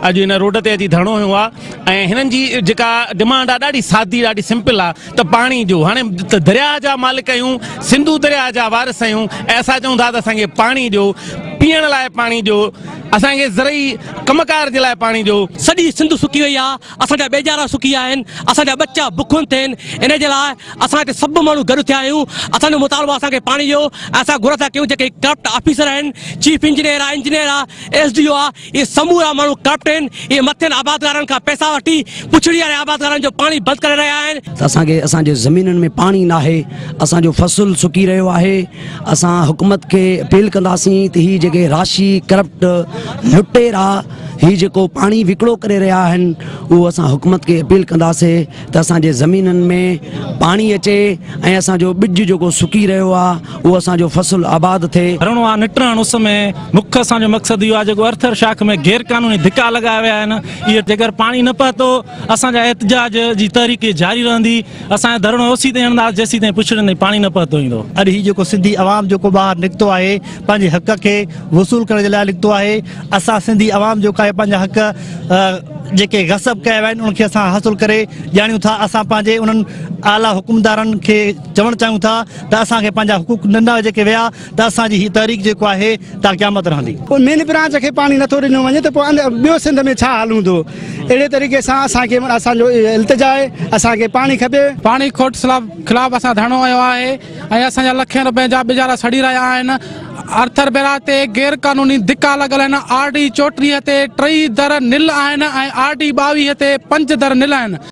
اڄ هن روڊ تي اچي ڌرڻو هنيو آ ۽ هنن جي جيڪا ڊمانڊ آ ڏاڍي سادي ڏاڍي سمپل آ ته پاڻي جو هاڻي درياء جا مالڪ آهيون سنڌو درياء جا وارث آهيون ۽ اسان چئون ٿا ته اسان کي پاڻي ڏيو پيئڻ لاء پاڻي ڏيو اسان کي زرعي ڪم ڪار جي لاء پاڻي ڏيو سڄي سنڌ سڪي وئي آ اسان جا ٻيجارا سڪي آهن اسان جا ٻچا بکن تين ان جي لاء اسان هتي سڀ ماڻهو گڏ ٿيا آهيون اسان جو مطالبو آ اسان کي پاڻي ڏيو ۽ اسان گهر ٿا ڪيون جيڪي ڪرپٽ آفيسر آهن چيف انجنيئر آ انجنيئر آ ايس ڊي او آ اهي سمورا ماڻهو ڪرپٽ آهن، اهي مٿين آبادگارن کان پئسا وٺي پڇڙي واري آبادگارن جو پاڻي بند ڪري رهيا آهن. ته اسان کي اسان جي زمينن ۾ پاڻي ناهي، اسان جو فصل سڪي رهيو آهي، اسان حڪومت کي اپيل ڪنداسين ته هي جيڪي راشي ڪرپٽ لٽيرا هي جيڪو پاڻي وڪڙو ڪري رهيا آهن اهو اسان حڪومت کي اپيل ڪنداسين ته اسان جي زمينن ۾ پاڻي اچي ۽ اسان جو ٻج جيڪو سڪي رهيو آهي اهو اسان جو فصل آباد ٿئي. رڻو آ نٽران اس ۾ مک اسان جو مقصد اهو آهي جيڪو ارٿر شاخ ۾ غير قانوني ڌڪا لڳايا ويا آهن اهي جيڪر پاڻي نه پهتو اسان جا احتجاج جي تحريڪ جاري رهندي اسان جو ڌرڻو اوسي تائين هڻنداس جيسي تائين پڇڙين تائين پاڻي نه پهتو ايندو. اڄ هي جيڪو سنڌي عوام جيڪو ٻاهر نڪتو آهي پنهنجي حق کي وصول ڪرڻ جي لاء نڪتو آهي اسان سنڌي عوام جيڪو آهي پنهنجا حق جيڪي غصب ڪيا ويا آهن انهن کي اسان حاصل ڪري ڄاڻيون ٿا اسان پنهنجي انهن اعليٰ حڪمدارن کي چوڻ چاهيون ٿا ته اسان کي پنهنجا حقوق نندا جيڪي ويا ته اسان جي هي تحريڪ جيڪو آهي تا قيامت رهندي مين برانچ کي پاڻي نٿو ڏنو وڃي ته پوء ٻيو سنڌ ۾ ڇا حال هوندو اهڙي طريقي سان اسان کي اسان جو التجا آهي اسان کي پاڻي کپي پاڻي کوٽ خلاف اسان ڌرڻو هنيو آهي ۽ اسان جا لکين روپين جا ٻجارا سڙي رهيا آهن ارٿر بيرا تي غير قانوني ڌڪا لڳل آهن آر ڊي چوٽيهه تي ٽئي در نل آهن ۽ آر ڊي ٻاويهه تي پنج در نل آهن